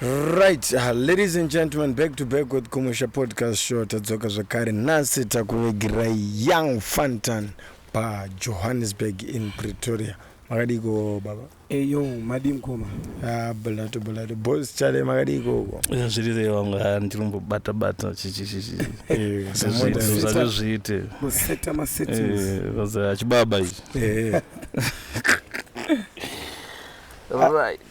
Right, uh, ladies and gentlemen, back to back with Kumusha Podcast Show. Tadzoka zvakare nhasi takuvegirai Young Fantan pa Johannesburg in Pretoria. Makadiko baba? Eyo, eh, madi mkoma. Ah, balato balato. Boss chale makadiko uko. Eh, zviri zve wangu ha ah, ndilombo bata bata chichi chichi. Eh, samoda zvacho zviite. Museta maseti. Eh, vaza chibaba ichi. Eh. All right.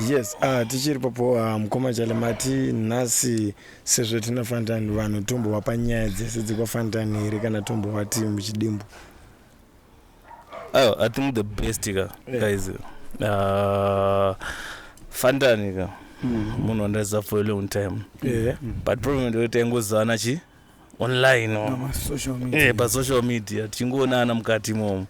yes uh, tichiri papo uh, ah, mukoma chalemati nhasi sezvo tina fantani vanhu tombohwa panyaya dzese dzekwafantani here kana tombohwa tii muchidimbu oh, i think the best ka yeah. guys uh, ah, fantani ka mm. munhu mm. wandaziva for a long time yeah. but problem ndekuti aingozivana chi online or Pama social media. eh, pasocial media tichingoonana mukati imomo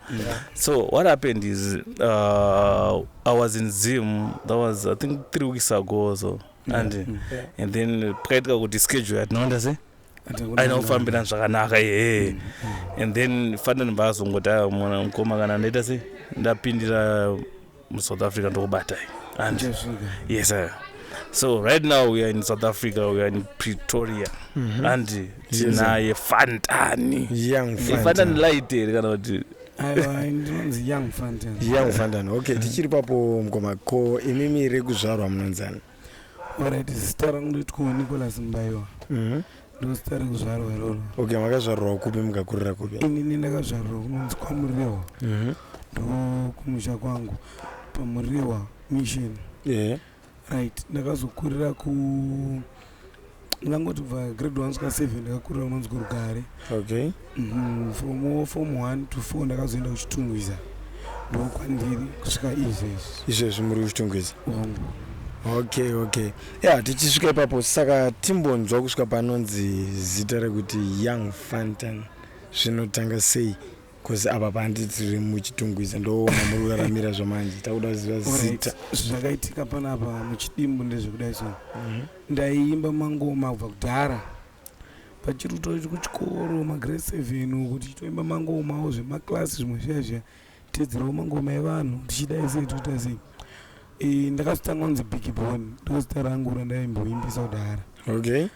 so what happened is uh, i was in zim that was i think three weeks ago or so and, and then pakaitika kuti schedule yatinoenda se Ati hakuna aina kufambirana zvakanaka yee and then fanira ndimbaazongoti mwana mukoma kana ndaita se ndapindira musouth africa ndokubatai and yes sir so right now we are in south africa we are in pretoria mm -hmm. and tinaye fantani fantani light here kana kuti young fantan okay tichiri papo mkoma ko imimi rekuzvarwa munonzani Alright, zita rangu ndoitwa Nicholas Mbaiwa. Mhm. Mm Ndosita rekuzvarwa iroro. Okay, makazvarwa kupi mukakurira kupi? Inini ndakazvarwa kunonzi kwaMuriwa. Mhm. Mm Ndo kumusha kwangu paMuriwa mission. Yeah. Right, ndakazokurira ku ndangoti kubva grade one svika seven ndakakurira unonzwi rugare okay mm, from form one to four ndakazoenda kuchitungwiza ndokwandiri kusvika izvezvi izvezvi muri kuchitungwiza wangu okay okay ya tichisvika ipapo saka timbonzwa kusvika panonzi zita rekuti young fantan zvinotanga sei Cause apa pandi tiri muchitungwiza ndoona muri kuraramira zvamanje takuda kuziva zita. Zvakaitika panapa muchidimbu ndezvekudai so. Mhm. Ndaiimba mangoma kubva kudhara. Pachiri kutori kuchikoro magrade 7 uku tichitoimba mangomawo zvemaclass zvimwe zviya zviya teedzerawo mangoma evanhu tichidai sei tikuita sei. Eh, ndakazotanga kunzi Big Bone ndozita rangu randaimboimbisa kudhara. Okay.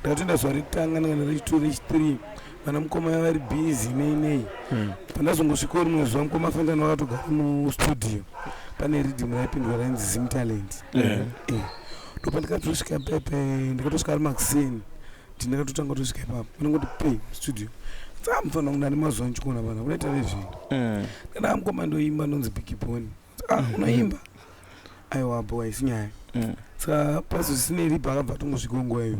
ndakatoenda zuva rekutanga ndakana rechitu rechithree vana mukoma ya vari busy nei nei hmm. pandazongosvikawo rimwe zuva mukoma fantani vakatogara mustudio pane ridhim raipindwa rainzi zim talent eh. Eh. ndopandikatosvika pepe ndikatosvika ari makuseni ti ndakatotanga kutosvika ipapo panongoti pe studio tsamufana kunani mazuva ndichikuona vana kunaita vezvinhu eh. ndana mukoma ndoimba ndonzi bigiboni ah, unoimba aiwa bho haisi nyaya mm. saka pazo zvisinei riba akabva atongozvikongoa iwe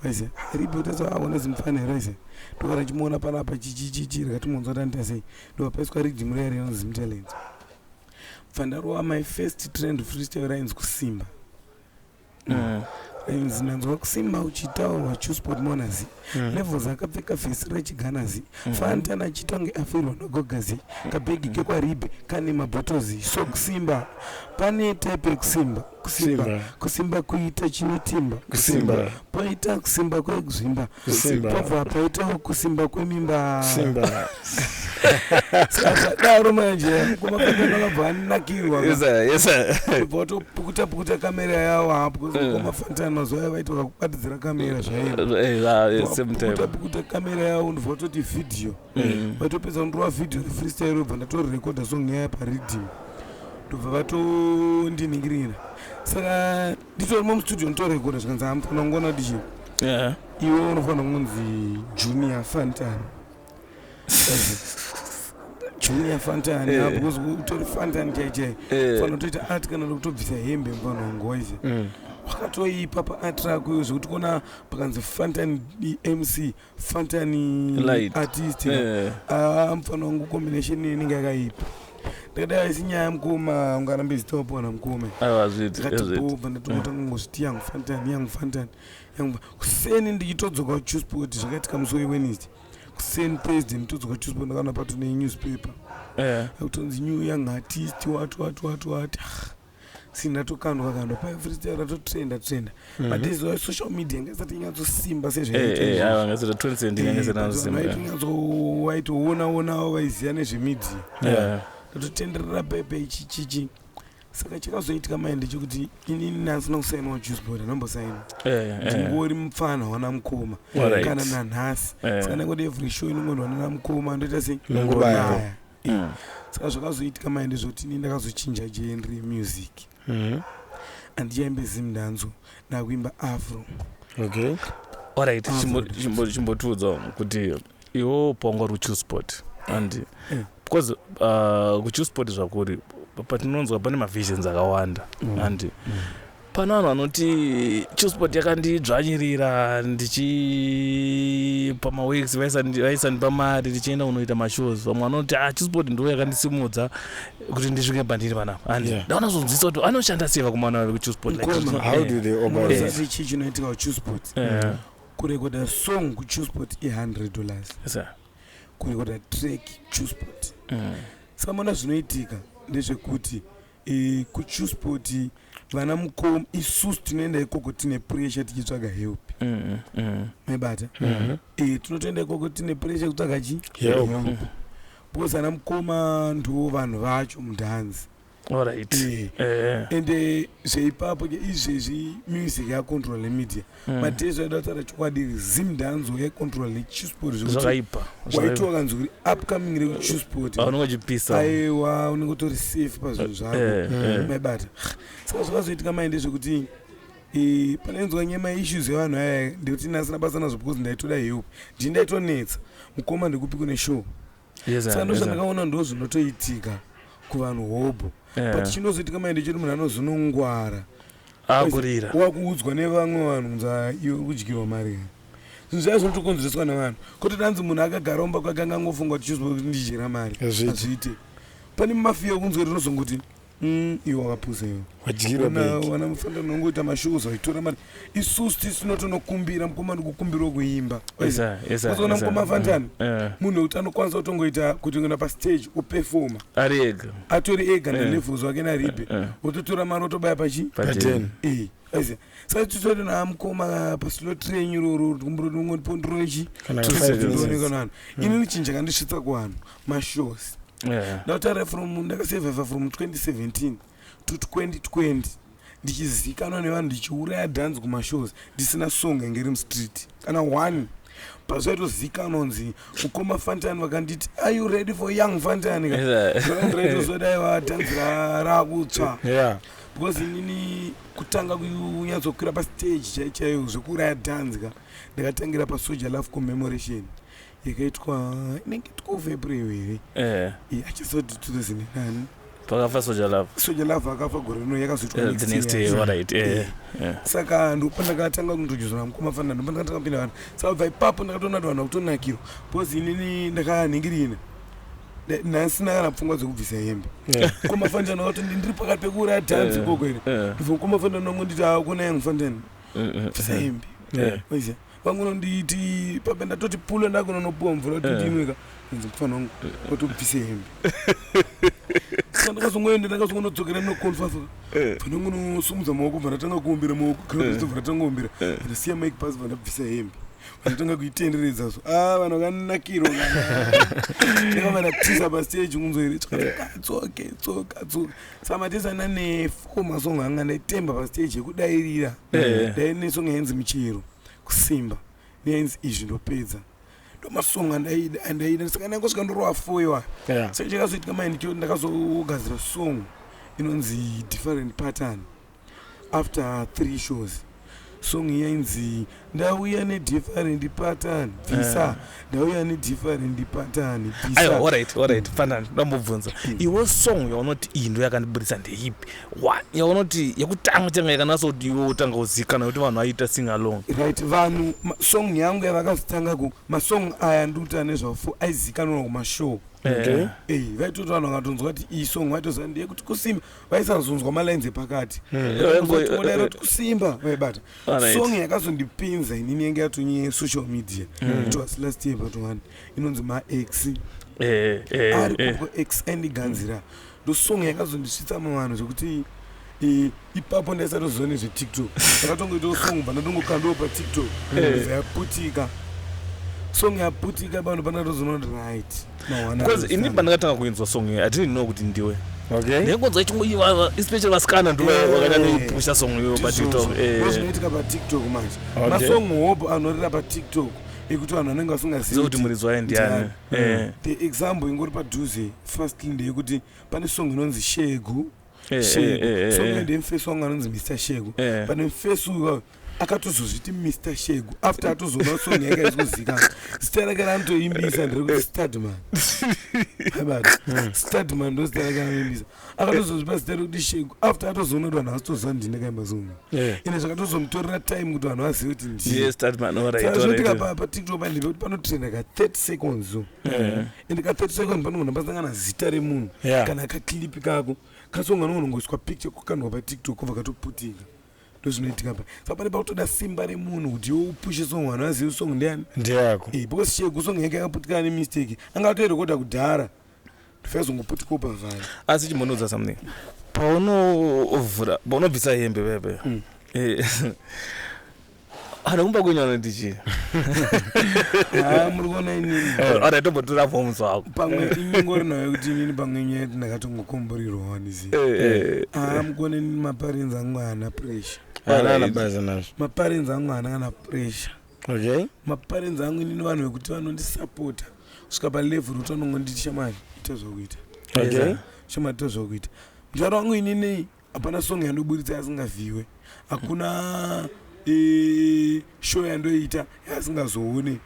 aize ah, riba utaza aona ah, zimufana here aize ndokana ndichimuona panapa chichichichi rikatimonzwa tanita sei ndobva paiswa ridimu riya rinonzi zimtalent bva ndarowa my first trend freestyle rainzi kusimba mm. Rings nanzwa kusimba uchitaurwa chusport monazi mm. levels akapfeka fesi rechiganazi mm. fantana achitonge afirwa nogogazi kabhegi mm. kekwaribe kane mabhotozi so kusimba pane type yekusimba kusimba kusimba kuita chinotimba kusimba poita kusimba kwekuzvimba kusimba Pabva paitawo kusimba kwemimba simba daro manje kumafanira vakabva anakirwa Yes, sir. Yes, sir. kubva watopukuta pukuta kamera yawo ha because Mm. kumafanira mazuva aya vaita vakubatidzira kamera zvaivo Eh, ah, eh, same time. Pukuta pukuta kamera yawo ndobva watoti video Mm. vatopedza kundorova video refreestyle robva ndatorekodha song yaya pariddim ndobva vatondiningirira saka nditorimo mustudio nditorekoda zvikanzi amufanira kungona kuti chii yeah. iwe unofanira kunzi junior fantan junior fantan yeah. yeah, because utori fantan chaichai yeah. fana utoita art kana kutobvisa hembe mfana wangoise mm. wakatoipa paart rako iyo zvekuti kona pakanzi fantan mc fantani Light. artist Eh. Ah, mfana wangu combination inenge yakaipa ndikadai haisi nyaya mkoma ungarambe zitopona mkome aiwa hazviiti hazviiti ndikatobva ndatomotanga ngozviti yangu fantani yangu fantani yangu fa- kuseni ndichitodzoka kuchusport zvakaitika musi wewednesday kuseni thursday nditodzoka kuchusport ndakaona patune newspaper Eh. akutonzi new young artist wati wati wati wati Ah, sina tokandwa kandwa pa freestyle ratotrenda trenda mm -hmm. but this was social media ngasati nyatsosimba sezvaitoona onawo vaiziva nezvemedia yeah. ratotenderera pepe ichi chichi saka chakazoitika mai ndechekuti inini ndasina kusainawo jusbord anombosaina eh, eh. ndingori mupfana wana mukoma kana nanhasi eh. saka nekoti every show inongonwa nana mukoma ndoita sei nongonaya yeah. saka zvakazoitika maende zvoti ini ndakazochinja genre music mm -hmm. andichaimbe zim ndanzo ndakuimba afro okay alright chimbotiudzawo kuti iwo pongo ruchusport and eh. because uh, kuchusport zvakuri patinonzwa pane mavisions akawanda mm. and mm. Pano vanhu vanoti Chusport yakandidzvanyirira ndichipa maweeks vaisandipa mari ndichienda kunoita mashows. Vamwe vanoti ah Chusport ndiyo yakandisimudza kuti ndisvike pandiri panapa. And yeah. ndaona zvonzwisa kuti anoshanda sei vakomana vave kuChusport like Koma, how do they organize? Yeah. Sisi chichi chinoitika kuChusport. Yeah. Kurekoda song kuChusport i 100 dollars. Yes, sir. Kurekoda track Chusport. Mm. Saka mona zvinoitika ndezvekuti e, kuchusport vana mukom isusu tinoenda ikoko tine pressure tichitsvaga help mm, mm. mebata mm -hmm. e, tinotoenda ikoko tine pressure kutsvaga chi help because ana mukoma ndiwo vanhu vacho mudhanzi right. e, e. ende zveipapo ke izvezvi music yacontrol media mm. mm. but yesu aida kutaura chokwadi iri zim danzo yaikontrola nechisport zvakaipa waiti wakanzwa kuri upcoming rekuchisport ah, aiwa unenge utori safe pazvinhu eh, zvako eh, eh. maibata saka zvakazoitika mai ndezvekuti panainzwa nyema issues yevanhu aya ndikuti nasina basa nazvo because ndaitoda help ndii ndaitonetsa mukoma ndikupi kune show saka ndozvandakaona ndo zvinotoitika kuvanhu hobho but chinozoitika mai ndechokuti munhu anozonongwara akurira wakuudzwa nevamwe vanhu kunzi iwe kudyirwa mari here zvinhu zvaiva zvinotokonzereswa nevanhu kuti tanzi munhu akagara umba kwake anga angofunga kuti chizoa kuti ndidyira mari hazviite pane mafiya okunzwa rinozongoti mm, iwe wakapusa iwe wadyirawana mufanira unongoita mashows waitora mari isusu tisi tinotonokumbira mukomana kukumbirwa kuimba ozoona mukoma fantani munhu wekuti anokwanisa kutongoita kuti ngona pastage upefoma ari ega atori ega na levels wake na ribe wototora mari otobaya pachi paten eh aise sai tutori na mkoma pa slow train roro kumbro ndongo pondrochi kana kana ini nichinja kandisvitsa kwano ma shows ndataura from ndakasurvive from 2017 to 2020 ndichizikanwa nevanhu ndichiuraya dance kumashows ndisina song yange iri mustreet kana one pazvaitozikanwa nzi mukoma fantani vakanditi are you ready for young fantani kaitozodayiva dance rakutswa because inini kutanga kunyatsokwira pastage chaichaiyo zvekuuraya dance ka ndakatangira pasoja love commemoration yakaitwa inenge two february here eh. achizoti 2009 pakafa soja love soja love akafa gore rino yakazoitwa eh, the next day right eh, eh. saka ndopandakatanga kundojudzana mukoma fana ndopandakatanga kupinda vanhu saka bva ipapo ndakatoona kuti vanhu vakutonakirwa bcause inini ndakanhingirina nhasi ndakana pfungwa dzekubvisa hembe mukoma fandana wakatoti ndiri pakati pekuuraya dhanzi ikoko ine ndibva mukoma fandana wangu nditi akunaya mufandan bvisa hembe oziva vangononditi pabe ndatoti pule ndakunonopiwa mvura kuti eh. ndinwe ka inzi mufana wangu watobvise hembe sa ndakazongoenda ndakazongonodzokera noconfasa eh. fana wangu nosumudza maoko bva ndatanga kuombera maoko kaaobva ndatanga kuombera ndasiya mike pasi bva ndabvisa hembe vanotanga kuitenderedza so a vanhu vakanakirwa takavanatisa pasteji kunzwere tsoke tsoke tsoka samatesa nane four masong anga ndaitemba pastage yekudairira Eh. dai nesong yainzi michero kusimba neyainzi izvi ndopedza ndomasong andaida andaida saka ndangosvika ndorova foiwa Yeah. saka chakazoitika mai ndicho ndakazogadzira song inonzi different pattern After three shows song iya inzi ndauya nedifferent pattern bvisa eh. ndauya nedifferent pattern bvisaorit orit fana ndambobvunza hmm. iwe song yaunoti iyi ndo yakandiburitsa ndeipi yaunoti yekutanga changa yakanasa kuti iwe utanga kuzikana kuti vanhu vaita sing along right vanhu song yangu yavakazitanga ku masong aya ndikuta nezvafo aizikanwa kumashow eh. Eh, vaitoti vanhu vakatonzwa kuti iyi song vaitoziva ndeyekuti kusimba vaisazonzwa malines epakati vaingodaira kuti kusimba vaibata song yakazondipinza inini yange yatonye social media hmm. it was last year but one inonzi maex eh, eh, ari eh. kuko ex andiganzira ndo song yakazondisvitsa muvanhu zvekuti ipapo ndaisatoziva nezvetiktok akatongoitawo song pandatongokandiwo patiktok yaputika song yaputika pano panatozoona kuti right because ini pandakatanga kuinzwa song iyo i didn't know kuti ndiwe ndekonzwa ichingova especially vasikana ndo vakanya neipusha song iyo patiktokoinoitika eh. patiktok manje masong hope anorira patiktok ekuti vanhu vanenge vasingazivi kuti muridzi waye ndiani mm. eh. the example ingori padhuze firstly ndeyekuti pane song inonzi shegu Eh, eh, eh, so mende mfesi wangu anonzi mr sheko pane mfesi uyu akatozozviti mr shegu after atozoona song yake aizikuzika zita rake raanotoimbisa ndirekuti stadman aibati hmm. stadman ndo zita rake anoimbisa akatozozvipa zita rekuti shegu after atozoona kuti vanhu vasitoziva ndini ndakaimba song ine zvakatozomutorera time kuti vanhu vazive kuti ndiizotika patiktok pandipe kuti panotrenda ka 30 seconds so and ka 30 seconds panogona pasangana zita remunhu kana kaklipi kako kasonga anogona kungoiswa picture kokandwa patiktok kobva katoputika ndozvinoitika pa saka pane pakutoda simba remunhu kuti iwe upushe song vanhu vazivi song ndeyani ndeyako Eh, because shegu song yake yakaputikana nemistake anga atoirekoda kudhara ndofazongoputikawo pavhari asi chimbonodza something paunovhura paunobvisa hembe pepe Eh, anokumba kwenyu anoti chii Ah, muri kuona inini ora tombotura forms wako pamwe inyongorino yekuti inini pamwe inyaya yekuti ndakatongokomborirwa wanizi aa mukuona inini maparenzi angu haana pressure anana basa nazvo maparenzi angu haana kana pressure okay maparenzi angu inini vanhu vekuti vanondisapota kusvika palevhel kuti vanongonditi shamari ita zvakuita okay shamari ita zvakuita mutaro wangu inini Hapana song yandoburitsa yasingavhiwe. Hakuna eh, show yandoita yasingazoone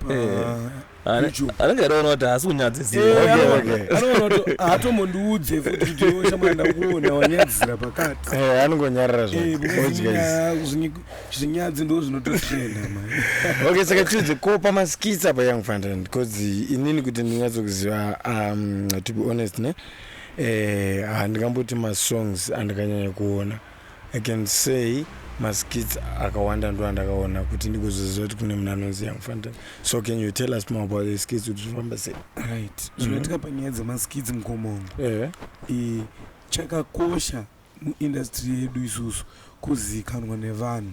pa Eh. Ane- YouTube. anenge airoona kuti haasi kunyadzisira Eh, Okay, ano- okay. anoona kuti haatombondi futi kuti iwe shamwari ndakuona wanyadzisira pakati Eh, anongonyarara Eh, zvake because odya izi. nyaya- zvinyi- zvinyadzi ndo zvinototrenda mani okay saka tiudze ko pamaskits apa young fantan because inini kuti ndinyatsokuziva um, to be honest ne Eh handingamboti masongs andikanyanya kuona I can say maskits akawanda ndo andakaona kuti ndigozoziva kuti kune munhu anonzi young fantan so can you tell us more about the skits kuti zvifamba sei right zvinoitika mm-hmm. panyaya dzemaskits mukomomo eh. eh, chakakosha muindastry yedu isusu kuzikanwa nevanhu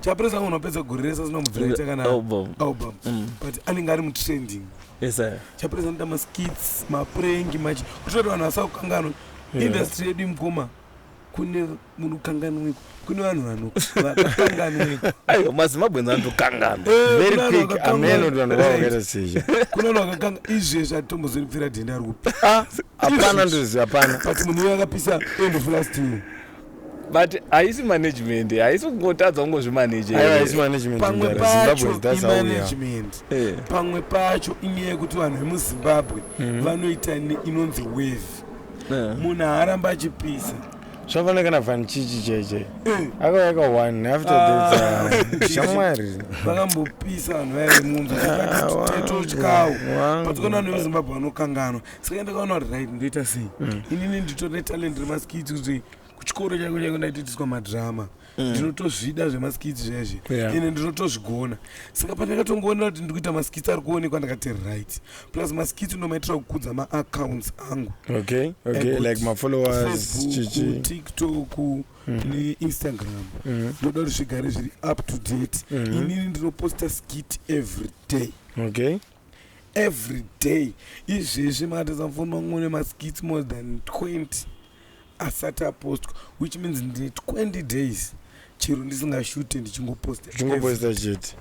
Chapresa anogona kupedza gore rese asina kubvira ita kana Album. album Mm. but anenge ari mutrending Yes, sir. chapresa anoita maskits maprank machi kuitira kuti vanhu vasakukanganwa Yeah. industry yedu mukoma kune munokanganwiko kune vanhu vano- vakakanganwiko Aiwa, mazimbabweans anotokanganwa Eh, very kuna quick vakakanganwa. ameno ameno ndivanhu vavo vakaita sezvo kune vanhu vakakanga izvezvi atombozoripfira dhenda ari kupi hapana ndizvi hapana but munhu uyo akapisa end of last year but haisi management haisi kungotadza kungozvimanejepamwe pacho imanagement eh. pamwe pacho inyaya yekuti vanhu vemuzimbabwe mhm. vanoita inonzi wave eh. munhu haaramba achipisa zvafana kana vanchichi cheche eh. akauya ka one after ah. that shamwari vakambopisa vanhu vaive munzwa ah, tatotyawo patikoona vanhu vemuzimbabwe vanokanganwa saka ndakaona kuti right ndoita sei mm. inini nditori netalent remaskits kuti kuchikoro changu changu ndaitoitiswa madrama mm. ndinotozvida zvemaskits zvezve ine ndinotozvigona saka pandakatongoonera kuti ndikuita maskits ari kuonekwa ndakati right plus maskits ndomaitira kukudza maaccounts angu tiktok mm. neinstagram mm. ndoda kuti zvigare zviri up to date inini ndinoposta skit every day okay every day izvezvi maratidza foni mangu mune maskits more than 20 asati apostwa which means ndine 20 days chero ndisingashute ndichingoposta ndichingoposta chete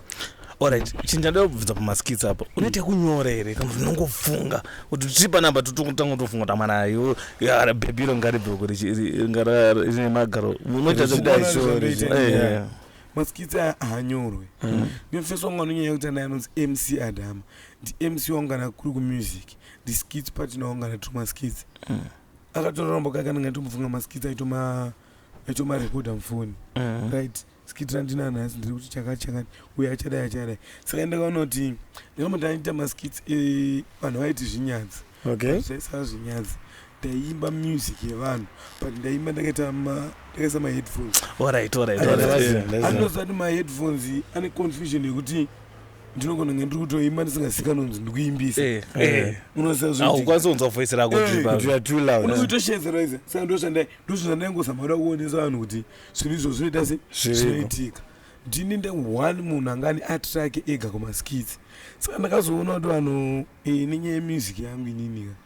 orit chinhu chandida kubvunza pamaskits apo unoita kunyora here kana ndinongofunga kuti tii panapa totanga kutofunga kuti amana ayo bhebiro ngaribvoko rine magaro unoita zvekudaisori maskits aya ahanyorwe mm. nefirst wangu anonyanya kuita naye anonzi mc adama ndimc wangu kana kuri kumusic ndiskits patina wangu kana tiri maskits mm. akatorarombo kake anenge aitombofunga maskits aitoma aitomarekodha mufoni mm. right skit randinanhasi ndiri kuti chakati chakati uye achadai achadai saka ndakaonoti ndikambo ndaita maskits eh, vanhu vaiti zvinyadzi okay. zvaisava zvinyadzi ndaimba music yevanhu but ndaimba ndakaita ndakaisa maheadphones alright alright alright anozati maheadphones ane confusion yekuti ndinogona kunge ndiri kutoimba ndisingazikanonzi ndikuimbisa eh, eh. eh, unozazvikwanisa kunzwa voice rako unokuitoshezeroise saka ndoshandai ndozvozvandaingozamara kuonesa vanhu kuti zvinhu izvo zvinoita se zvinoitika ndini nde one munhu anga ani atrake ega kumaskits saka ndakazoona kuti vanhu nenyaya yemusic yangu ininika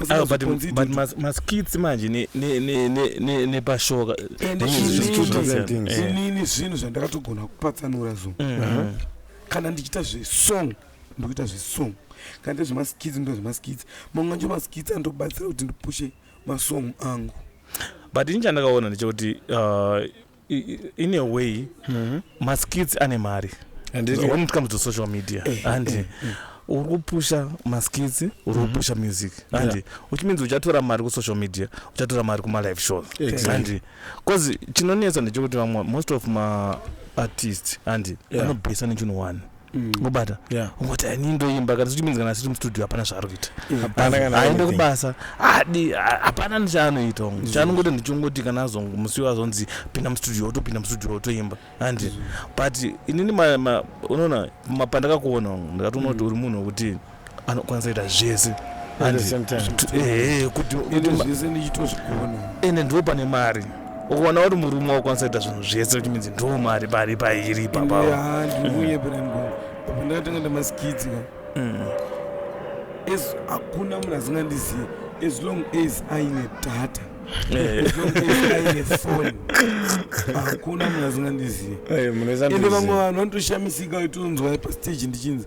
Ah, but Usizoponzi but dudu. mas- maskits manje ne- ne- ne- ne- ne- nepashoka And These inini- are two different things. Eh. inini zvinhu zvandakatogona kupatsanura zvo Mm. kana ndichiita zvesong ndokuita zvesong kana nda zvemaskits ndoita zvemaskits mamwe acho maskits andobatsira kuti ndipushe masong angu but ini chandakaona ndechekuti uh, in a way mm-hmm. maskits ane mari when it comes to social media eh, and eh, eh. uri kupusha maskits uri mm-hmm. kupusha music and yeah. which means uchatora mari kusocial media uchatora mari kumalive shows exactly. and bcause chinonetsa ndechekuti vamwe most of maartist and yeah. anobhesa nechinhu one Mm. ngobata yeah. ungoti ini ndoimba kana zvichiminzi kana asiri mustudio hapana zvaari kuita aende kubasa adi hapana nechaanoita ngo mm. chaanongoti ndichongoti kana azongo musi wo azonzi pinda mustudio otopinda mustudio otoimba andi mm. but inini unoona mapandakakuona ndikati unoti mm. uri munhu wekuti anokwanisa kuita zvese ende ndo pane mari ukaona kuti murume wakwanisa kuita zvinhu zvese kuti minzi ndo mari pari pairi papaandakatanga ndamaskidzi mm. as hakuna munhu asingandizivi as long as aine data eh. aine foni hakuna munhu asingandizivi ende vamwe vanhu vanotoshamisika itonzwa pastage ndichinzi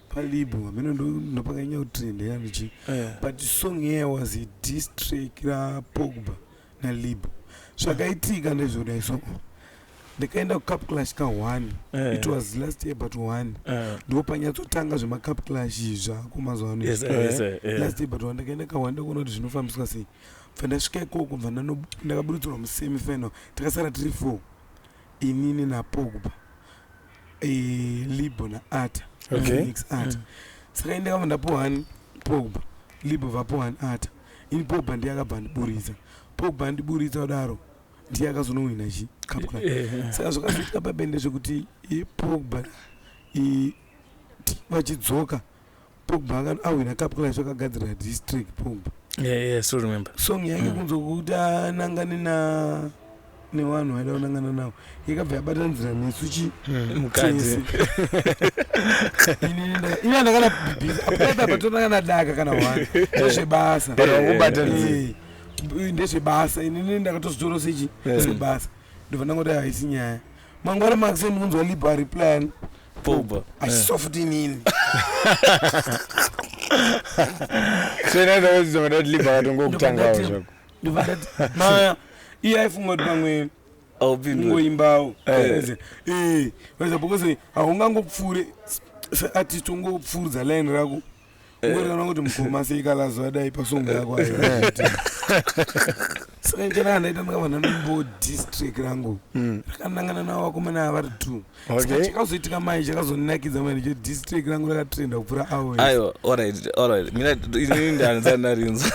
palibho hameno ndopakanyanya kutrenda yanichi eh. but song iye was a distrack rapogba nalibho zvakaitika ndezvodai so ndikaenda kucup clash ka1 eh. it was last year but 1 eh. ndipo panyatsotanga zvemacup clash zvako mazuva ano last year but 1 ndakaenda ka1 ndakuona kuti zvinofambiswa sei bva ndasvika ikoko bva ndakaburutsirwa musemifinal takasara tiri four Inini naPogba, eh, Libo naAta, Okay. Felix Ata. Saka ini ndakabva ndapuwa ani Pogba, Libo vapuwa ani Ata. Ini Pogba ndiye akabva andiburitsa. Pogba andiburitsa kudaro ndiye akazonowina chi Cup Club. Eh, Saka zvakazoitika pabende zvekuti eh, Pogba eh, ti- vachidzoka Pogba aka awina cup clash akagadzira district Pogba. Yeah, yeah, so remember. Song yake mm. kunzo kuti anangane na nevanhu vaida kunangana navo yakabva yabata nzira nesu chi hmm, mukadzi ina ndakana apatapa tonangana daka kana wani ndezvebasa ndezvebasa inini ndakatozvitora sechi zvebasa ndobva ndangoti haisi nyaya mangwana makuseni ndikunzwa liba replyan pogba achiso futi nini so inaenda kudzidza mada kuti liba vatongokutangawo zvako ndobva ndati maya iye aifunga kuti pamwe aupindwe kungoimbawo Eh. Eh, weza because haungangopfuure seartist ungopfuuridza line rako Ngotoona kuti mukoma sei kalazo adai pasongo yako ayo. Saka njana andaita ndakavana nombo district rangu. Rakanangana navo vakomana ava vari two. Saka Okay. chakazoitika mai chakazonakidza manje cho district rangu rakatrenda kupfuura avo. aiwa alright alright mina inini ndanza ndarinzwa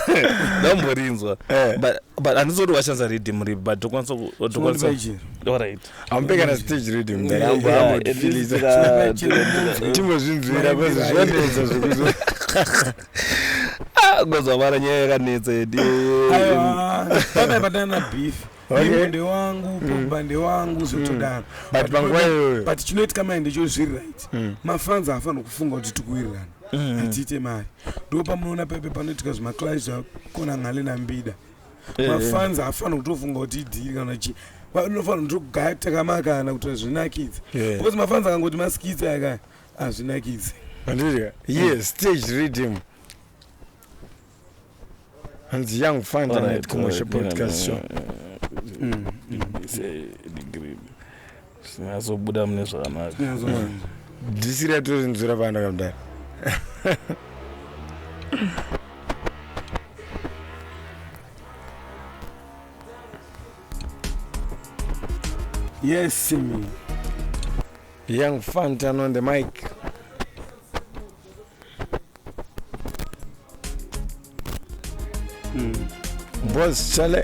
ndamborinzwa Eh. but but handizoti washandisa rhythm ripi but tokwanisa ku- tokwanisa Chinondipa ichi. alright amupe kana stage reading mdara ambo ambotifilisa timbozvinzwira bcause zvanetsa zvekuzo ah, ngozvavara nyaya yakanetsa yedi pane patana beef okay. ndi wangu mm. pogba ndi wangu zvotodaro mm. but panguva iyoyo but chinoitika mai ndicho zviri right mm. mafans haafanira kufunga kuti tikuwirirana mm. atiite mari ndo pamunoona pepe panoitika zvimaclive zvakona ngale nambida Eh, eh. mafanzi haafanira kutofunga kuti idhiri kana chii vanofanira kutogaya takamakana kuti hazvinakidze eh. because mafanzi akangoti maskitsi aka hazvinakidze andidya yes stage reading hanzi young fund and commercial broadcast show mm, mm. Sinyazobuda mune zvakanaka. Dhisi ratori nzura panda kamdara. Yes, me. Young Fantan on the mic. Mm. Boss Chale.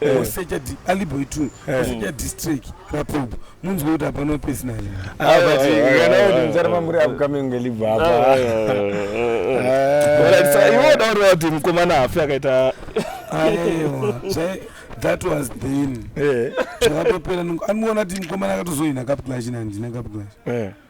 Eh. osecha di- aliboy tune Eh. osecha district rapopo munzwe kuti hapana personal Ah, but Ah, ah, kana ah, kuti ah, muzara ah, mamuri ah. upcoming ngelibva Ah, apa ah, ah. Alright, sir, iwe udaurira kuti mukomana hafi akaita aiwa zvai that was then Eh, zvakatopera nongo- anoona kuti mukomana akatozoina kapclash nandina kapclash eh.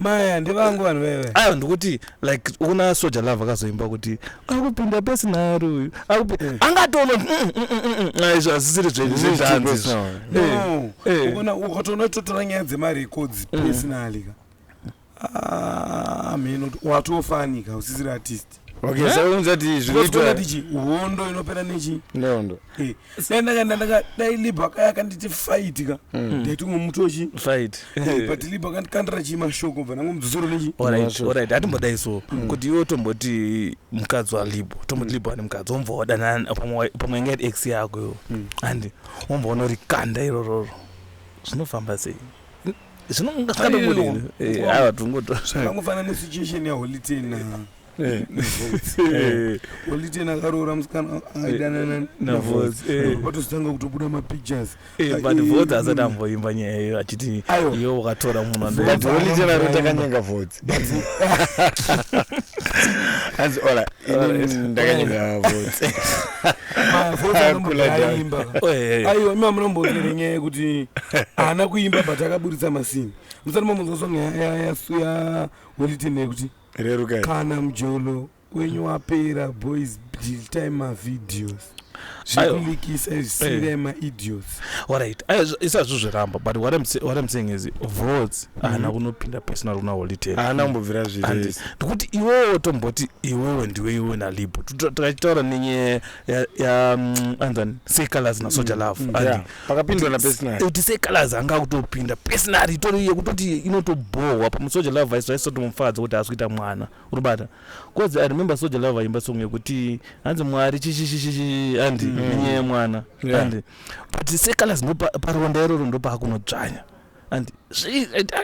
maya ndevangu vanhu veve ayo ndikuti like una soja love akazoimba kuti akupinda pesinari uyu mm. angatoona mm, mm, izvo hazisiri zvenyu zvezvanzi ukona ukatoona totora nyaya dzemari rekodzi pesinali ka ah, mheno watofanika usisiri artist Okay, Eh? saka unzati Because zvinoitwa kuona tichi hondo inopera nechi nehondo. Eh, dai ndaka- ndaka- dai libho akaya akanditi fight ka ndaitumwe muti wechi Fight. but libho akandikandira chii mashoko bva nangu mudzodzoro nechi Alright, Masho. alright. Hatimbodai so. Kuti iwe tomboti mukadzi walibo, tomboti libo ane mukadzi, womva wadanana pamwe wa- pamwe ingaita ex yako iwo. And womva unorikanda irororo. Zvinofamba sei? zvinongaskatobudiavangofanana nesituation yaholy ten holy ten akaroora musikana aidanana navotozotanga kutobuda mapictures but vot asati amboimba nyaya iyo achiti iyo wakatora munhu andoholy ten anotakanyanga vot hanzi ola ini ndakanyimira mavhotsi aiwa ima munombotere nyaya yekuti haana kuimba but akaburitsa masini musati mamunzwa song ya wellitene yekuti kana mjolo wenyu wapera boys time mavideos zvekulikisa zvisinga eh. maidios orit isazvo zviramba but what I'm, what I'm saying is votes mhm. haana kunopinda personal kuna holitee haana kumbobvira zviri ndikuti iwewe tomboti iwewe ndiwe iwewe nalibo tikachitaura nenye mm, anzani secolors nasoja mm, love mm, pakapindwa napersonal kuti secolors anga kutopinda personal itori yekutoti inotobhohwa pamusoja love aisotomufadza kuti haasi kuita mwana uribata cause i remember soja lava vaimba song yekuti hanzi mwari chishishishishi handi mm. nenyaya yemwana handi yeah. but secolors ndoparonda iroro ndopaakunodzvanya and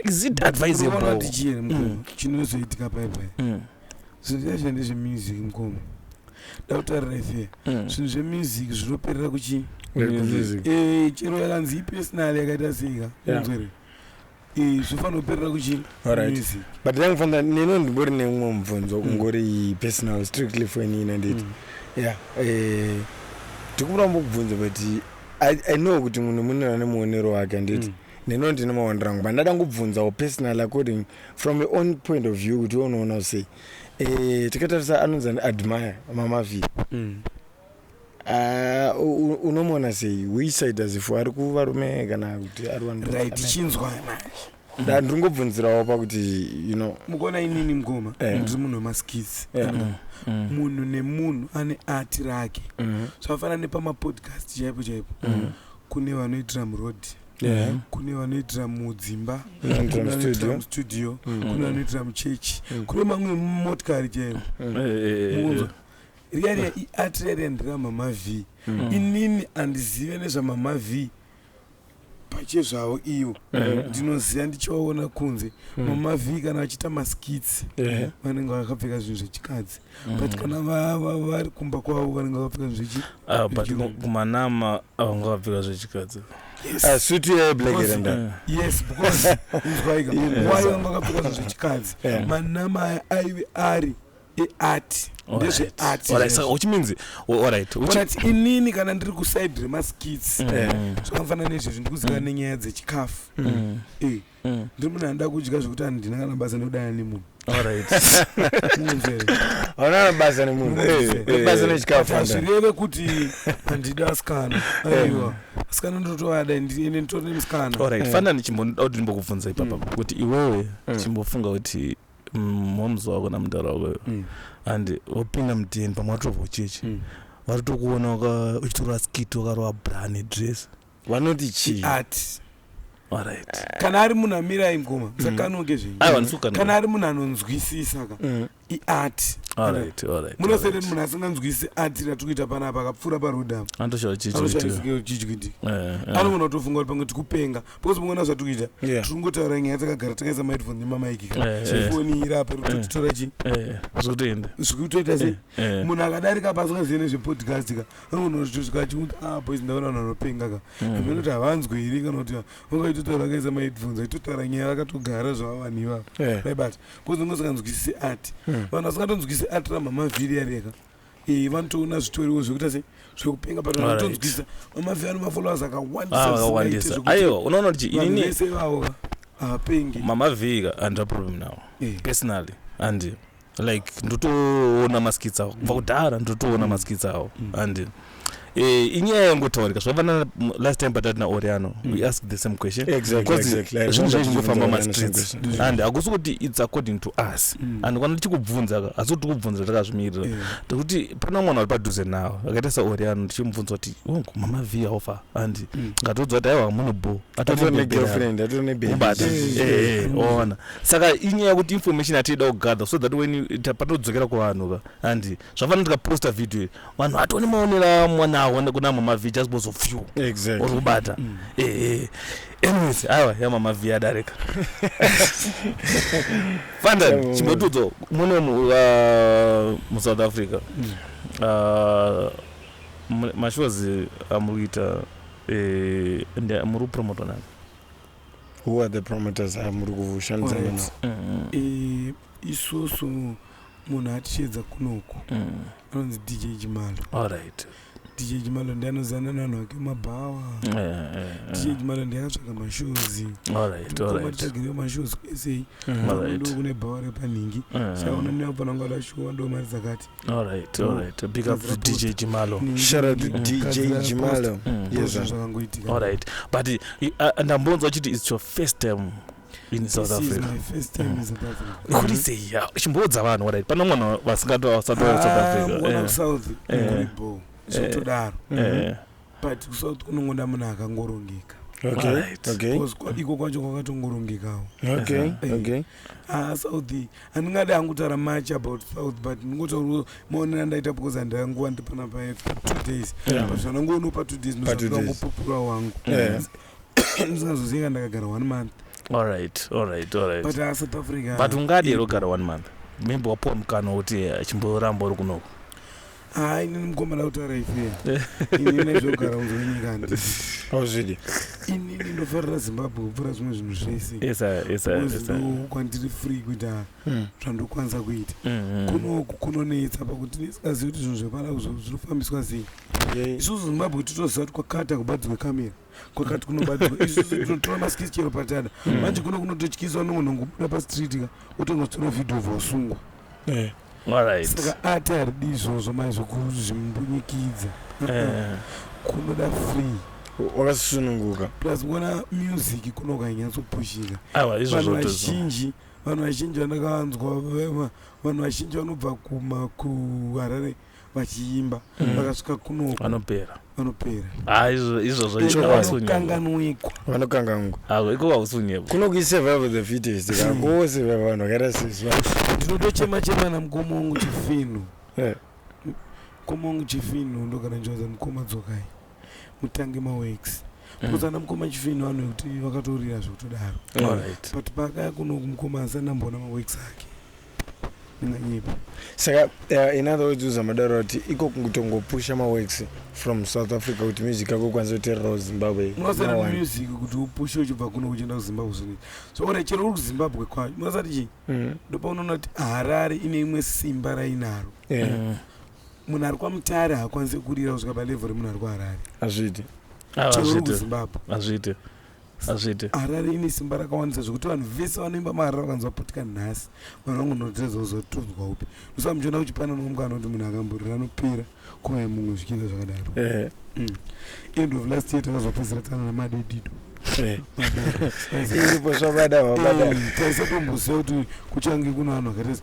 is it advisable mm. chinozoitika paipa mm. zvinhu zvacho ndezvemusic mukoma ndakutarira ife mm. zvinhu zvemusic zvinoperera kuchi eh, chero yakanzi ipersonal yakaita seika unzwere Eh, zvofanoperera kuchii Alright. but then fanda neno ndimbori neumwe mubvunzo ungori personal strictly for ini nanditi yeah eh, ndikumbira mbokubvunza but I, i know kuti munhu munhu ane muonero wake anditi Mm. neno ndine maonero angu but ndada ngubvunzawo personal according from your own point of view kuti unoona sei eh, tikatarisa anonzi ani admire mamavi Mm. Ah, unomona sei which side as if ari kuvarume kana kuti ari vanhu right chinzwa manje ndiri ngobvunzirawo pakuti you know mukuona inini mukoma eh. ndiri munhu wemaskits eh. mm, mm. munhu nemunhu ane ati rake mm-hmm. zvafana nepamapodcast chaipo chaipo mm-hmm. kune vanoitira muroad Yeah. kune vanoitira mudzimba kuneanoitira mustudio mm. kune vanoitira muchechi kune mamwe motikari chaivo eh, riya riya iart riya riya ndira mama v mm. inini andizive nezvamama v pachezvavo ivo eh. ndinoziva ndichivaona kunze mm. mama v kana vachiita maskits eh. vanenge vakapfeka zvinhu zvechikadzi mm. but kana vari kumba kwavo vanenge vakapfeka zvinhu zvechi ah, but kumanama avanga vakapfeka zvechikadzi Ah, suti yeblekerenda yes because why why wanga kapfeka zvechikadzi manama aive ari iart ndezveart Alright, saka which means oh, alright which- but inini kana ndiri kuside remaskits Eh, zvakafanana nezvezvi ndikuziva nenyaya dzechikafu Mm, Eh, mm. ndiri munhu anoda kudya zvekuti handina kana basa ndikudana nemunhu alright Unonzwere? hauna basa nemunhu Eh, eh. basa nechikafu But hazvireve kuti handidi asikana aiwa asikana ndotovada ende ende nditori nemusikana alright Mm. fana ndichimboda kuti ndimbokubvunza ipapa kuti iwewe Mm. chimbofunga kuti mm, moms wako namudhara wako iwe Mm. and wapinda mudn pamwe watobva uchechi Mm. vatotokuona waka- uchitora skit wakarova brani dress vanoti chii art alright kana ari munhu amira aingoma musakanonge zvenyu aiwa ndisukanwa kana ari munhu anonzwisisa ka Mm. iart alright alright munosere munhu asinganzwisisi art ratiri kuita panapa akapfuura paroad apa anotoshaura chii chikuitika anoshaizikichichikitika Eh, eh. anogona kutofunga kuti pamwe tikupenga because muona zvatiri kuita Yeah. tiri kungotaura nyaya takagara takaisa maheadphone nemamaiki ka Eh, eh. foni iri apa rikutotora chi Eh, zvikutoenda zvikutoita sei Eh, munhu akadarika pasi kazive nezvepodcast ka anonozvitosvika achimuti ah boys ndaona vanhu vanopenga ka mm. amene kuti havanzwe here kana kuti ungaitotaura akaisa maheadphones aitotaura nyaya vakatogara zvava vanhu ivavo Eh, vaibata kozi ungasinganzwisisi art mm. vanhu vasingatonzwisisi art ramhamavhiri yareka Eh, vanotoona zvitoriwo zvekuita se zvekupenga but Alright. vanotonzwisisa vamavhi ano mafollowers Ah, akawandisa vakawandisa zvisingaite zvekuti aiwa unoona kuti chi- vanhu inini vese ivavo va- havapengi mamavhika handina problem nawo Eh, personally and like ndotoona maskits awo kubva kudhara ndotoona Mm. maskits awo Mm. and Eh, inyaya yangotaurika zvavana last time patati naoriano mm. we ask the same question zvinhu zvaizvingofamba mastreets and hakusi kuti its according to us mm. and kana tichikubvunza ka hasi kuti tikubvunza takazvimirira yeah. tekuti pana mwana ari padhuze nawo akaita saoriano tichimubvunza kuti oh, mama v hofa and mm. ngatiudza kuti aiwa muno bo ona saka inyaya kuti information atiida kugather so that when patodzokera kuvanhu ka and zvafana tikaposta video iri vanhu vatone maonera mwana awo kuna mama v just bozo few exactly. or kubata mm. eh, eh. anyways aiwa ya mama v adarika fandan chimbotudzo mune uh, musouth africa mm. uh, mashows amuri uh, kuita eh, muri kupromota nani who are the promoters amuri kushandisa navo mm. eh, isusu munhu atisheedza kunoku mm. anonzi mm. dj jimalo alright dj jimalo ndiye anozana nanhu ake mabhawa eh, eh, eh. dj jimalo ndiye akatsvaga mashozi matitagireo mashozi kuesei ndo kune bhawa repanhingi chaona ndiye apana nguva lashuwa ndo mari dzakati zvakangoitika but uh, ndambonzwa chiti its your first time in south africa kuri sei chimboudza vanhu wadai pana mwana vasingatoa south africasouth ah, eh. eh. bo zvotodaro eh. mm-hmm. but kusouth kunongoda munhu akangorongeka iko kwacho kwakatongorongekawo ah, south handingadi hangu taura much about south but ndingotaura maonero andaita because handaya nguva ndipana paye two days but zvanangu unopa two days nosandangu pupura wangu ndisingazozivi kana ndakagara one month alright alright alright but uh, south africa but ungadii rogara one month maybe wapuwa mukana wekuti achimboramba uri kunoko hayi nini mukomana kutaura ife ini nezvekugara kunze kwenyika handi auzvidi inini ndofarira zimbabwe kupfuura zvimwe zvinhu zvese Yes, sir. Yes, sir. Yes, sir. kwandiri free kuita mm. zvandokwanisa kuita mm-hmm. kunoku kunonetsa pakuti nesingazivi kuti zvinhu zvepana zvinofambiswa sei isusu zimbabwe titoziva kuti kwakata kubadzirwa kamera kwakati kunobadzirwa isusu tinotora maskisi chero patada mm. manje kuno kunototyiswa nongonongobuda pastreet ka otongotora vhidhio vosungwa eh. saka ati haridi izvozvo mai zvokuzvimbunyikidza eh. kunoda free wakasununguka plus kuona music kunoka inyatsopushika vanhu vazhinji Vanhu vazhinji vandakanzwa vanhu vazhinji vanobva kuma kuharare vachiimba mm. vakasvika kuno vanopera vanopera ah, izvozvokanganwikwa vanokanganwa ah, iko vausunyepo kuno kuisurvive the fittest kakose mm. vanhu vakaita sisi ndinotochema chema namukoma wangu chifinhu eh. mukoma wangu chifinhu ndokana njoza mukoma dzokai mutange maworks mm. because ana mukoma chifino vanhu vekuti vakatorira zvekutodaro but pakaya kuno kumukoma asi anamboona maworks ake ndinganyepa saka uh, in other words uzamadaro kuti iko kutongopusha maworks from south africa kuti music yako ikwanisa kutererawo zimbabwe munosana music kuti upushe uchibva kuno uchienda kuzimbabwe zvine so ora chero uri kuzimbabwe kwayo munosati chii mm. ndopaunoona kuti harare ine imwe simba rainaro yeah. mm. munhu ari kwamutare haakwanise kurira kusvika palevho remunhu ari kuharare hazviiti cheuri kuzimbabwe hazviiti hazviiti harare ine simba rakawandisa zvekuti vanhu vese vanoimba maharare vakanzwa putika nhasi vanhu vangu noteza kuzotonzwa upi musaa muchiona kuchipana nomumwe anoti munhu akamburira anopera kuvaye mumwe zvichiita zvakadaro eh. mm. end of last year takazopedzera tsana namadedido eh. iripo zvabada vabada mm, taisatomboziva kuti kuchange kuno vanhu vakaita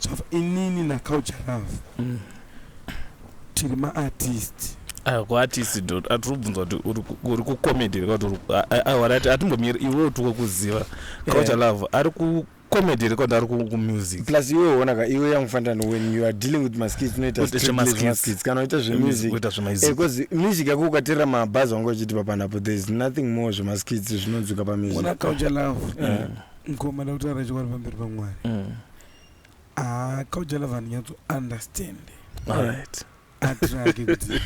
Java, inini naculture love mm. tiri maartist ah, kuartist do atiri kubvunza kuti uri kucomedy reka kuti warati atimbomiri iwe uti wokuziva culture eh. love ari comedy record ari kumusic plus iwe uona ka iwe yangufanira no when you are dealing with maskits unoita skits kana uita zvemusic eh, because music yako ukaterera mabhazi wanga uchiti papanapo there is nothing more zvemaskits zvinonzwika pamusic ona kaucha love eh. ngoma ndakutaura chokwadi pamberi pamwari mm. Ah, kaujala vanhu nyatso understand Alright. atirage kuti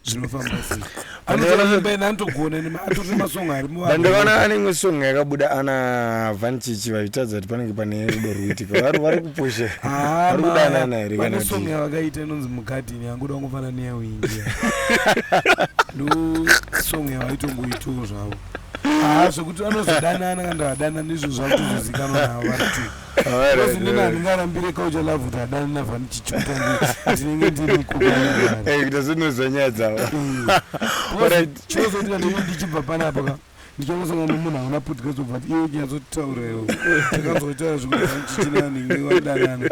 zvinofamba sei Anoona- anoimba ena anotogona nema atori nemasong ari muvanhu. ndandakaona ane imwe song yakabuda ana vanchichi vaitadza kuti panenge pane rudo rwuitika vari vari kupusha Ah, vari ma- kudanana here vane kana song kuti yavakaita inonzi mugadhini yanguda kungofana neyawingia ndo song yavaitongoitawo zvavo haa zvekuti vanozodanana kana ndavadana ndizvo zvakutozozikanwa navo variti kozi ndini handingarambire kaucha love kuti adana navanichichuta ndinenge ndiri kukuita zvinoziva nyaya dzavo chozoti kandinge ndichibva panapa ka ndichakasangana nomunhu hauna podcast obva ti iwe uchinyatsotauraiwo takanzotaura zvekuichitinanenge wadanana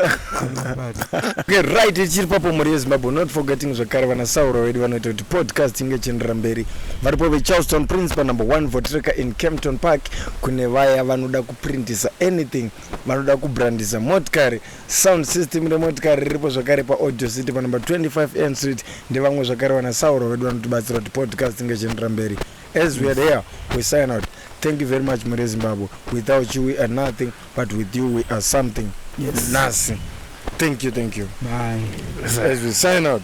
right ichiri papo mhuri yezimbabwe not forgetting zvekare vanasauro vedu vanoita kuti podcast inge ichienderera mberi varipo vecharleston prince panumber 1 votreka in campton park kune vaya vanoda kuprintisa anything vanoda kubrandisa motikari sound system remotikari riripo zvakare paaudio city panumber 25 n street ndevamwe zvakare vana sauro vedu vanotibatsira kuti podcast inge ichienderera mberi as we are there we sign out thank you very much mure zimbabwe without you we are nothing but with you we are something yes. nasi thank you thank you Bye. as we sign out